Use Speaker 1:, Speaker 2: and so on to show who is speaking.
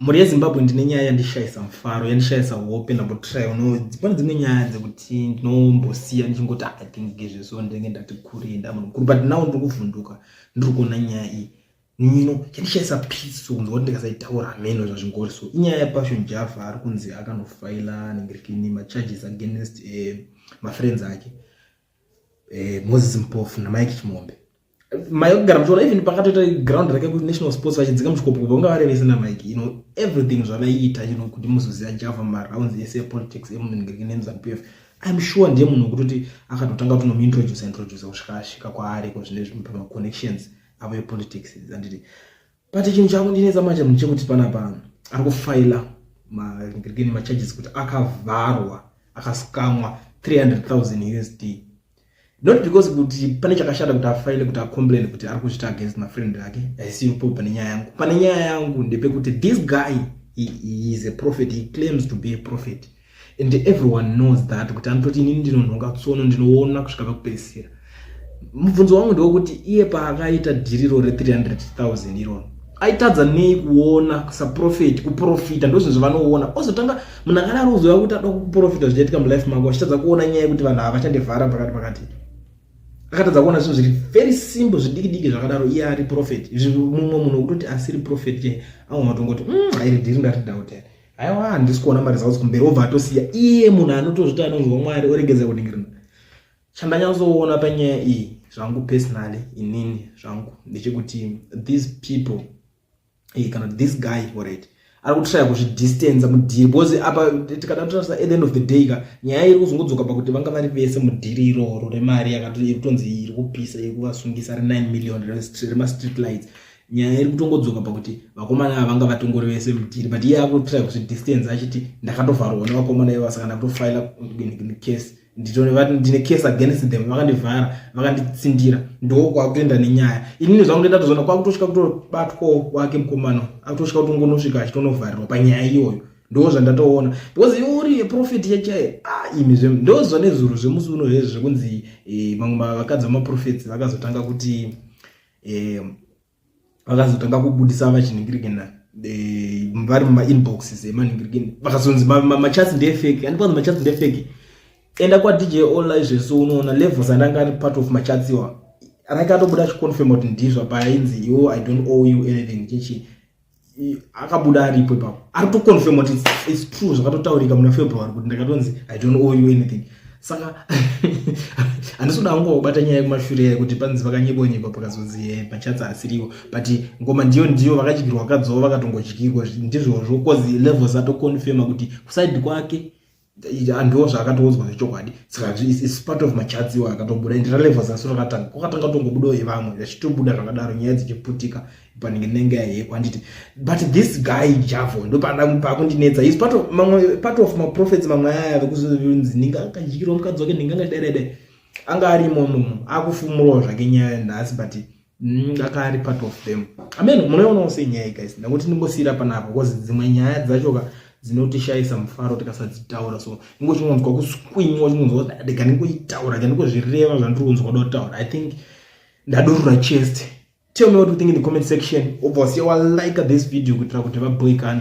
Speaker 1: mhuri yezimbabwe ndine nyaya yandishayisa mufaro yandishayisa hope ndambotry pane dzimwe nyaya dzekuti ndinombosiya ndichingoti ah, i think ngezveso ndenge ndati kure ndamunhu mukuru but now ndiri kuvhunduka ndiri kuona nyaya iyi nino yandishayisa peace so kunzwa kuti ndikasaitaura hameno zvazvingori so inyaya yapassion java ari kunzi akanofaila nengrikini macharges against eh, mafriends ake eh, moses mpofu namike chimombe mai vakugara muchiona even pakatoita ground rake kunational sports vachidzinga muchikopo kubva kunga vari vese namike you know everything zvavaiita you know kuti muzoziva java marounds ese epolitics emunengeke nemuzanup f im sure ndiye munhu wekutoti akatotanga kuti nomuintroduce introduce kusvika asvika kwaariko zvine zvimwe pamaconnections avo epolitics anditi but chinhu chakundinetsa manje munhu chekuti panapa ari kufaila magirigini macharges kuti akavharwa akasikamwa 300000 usd not because kuti pane chakashata kuti afaile kuti acomplain kuti ari kuzvita against mafriend ake aisipo pane nyaya yangu pane nyaya yangu ndepekuti this guy he, he is a prophet he claims to be a prophet and everyone knows that kuti anototi inini ndinonhonga tsono ndinoona kusvika pakupedzisira mubvunzo wangu ndewekuti iye paakaita dhiriro re300000 iroro aitadza nei kuona saprofeti kuprofita ndozvinhu zvavanoona ozotanga munhu akadaro uzoya kuti ada kuprofita zvichaitika mulife mako achitadza kuona nyaya yekuti vanhu hava chandivhara pakati pakati akatadza kuona zvinhu zviri very simple zvidikidiki zvakadaro iye ari profeti izvi mumwe munhu wekutoti asiri profeti ke aona kutongoti mm, airi dhiri ndarida kutera aiwa handisi kuona maresults kumberi obva atosiya iye munhu anotozvita anonzwa mwari oregedza kuningirina chandanyatsoona panyaya iyi zvangu personally inini zvangu ndechekuti these people eh, kana this guy orit ari kutoshaya kuzvidistance mudhiri because apa tikada kutarisa at the end of the day ka nyaya iri kuzongodzoka pakuti vanga vari vese mudhiri iroro remari yakatotonzi iri kupisa iri kuvasungisa re 9 million remastreet lights nyaya iri kutongodzoka pakuti vakomana ava vanga vatongori vese mudhiri but iye akutry kuzvi distance achiti ndakatovharwa nevakomana ivo saka ndakutofila case nditovati ndine case against them vakandivhara vakanditsindira ndoo kwakutoenda nenyaya inini zvangu ndoita tozoona kwakutosvika kutobatwawo kwake mukomana akutosvika kutongonosvika achitonovharirwa panyaya iyoyo ndo zvandatoona because iwe uri yeprofeti yachaye ah, imi zve ndozva nezuro zvemusi uno hezvo zvekunzi eh, vamwe vakadzi vamaprofeti vakazotanga kuti um vakazotanga kubudisa vachiningirikina eh, vari mumainboxes emaningirikini eh, vakazonzi machats ndefeki andi kwanzi machats ndefeki enda kwadj online zvesu unoona levels andanga ari part of machats iwa anake atobuda achiconfirma kuti ndizvo paainzi yo i don't owe you anything chichi akabuda aripo ipapo ari kutoconfirm kuti its true zvakatotaurika muna february kuti ndakatonzi i don't owe you anything saka handisi kuda kungo kubata nyaya yekumashure yayo kuti panzi vakanyebonyeba pakazonzi eh, pachatsa asiriwo but ngoma ndiyo ndiyo vakadyirwa vakadzova vakatongodyirwa ndizvozvo bcause levels atoconfirma kuti kusaidi kwake andiwo zvaakatoudzwa zvechokwadi saka is part of machats iwo akatobuda and relevance asi rakatanga kwakatanga tongobudawo yevamwe vachitobuda zvakadaro nyaya dzichiputika panenge nenge yaheko handiti but this guy javo ndopakundinetsa is part of mamwe part of maprofets mamwe aya vekuzonzi ndinga akadyirwa mukadzi wake ndinga ngadaidaidai anga arimo mumu akufumurawo zvake nyaya nhasi but Mm, aka ari part of them amen munoionawo sei nyaya iyi guys ndakuti ndingosiyira panapa because dzimwe nyaya dzachoka dzinotishayisa mufaro tikasadzitaura so ingo chingonzwa kuswinywa chingonzwa kuti ndega ndingoitaura ga ndingozvireva zvandiri kunzwa kuda kutaura i think ndadurura chest tell me what you think in the comment section obva wasiya walike this video kuitira kuti vaboikane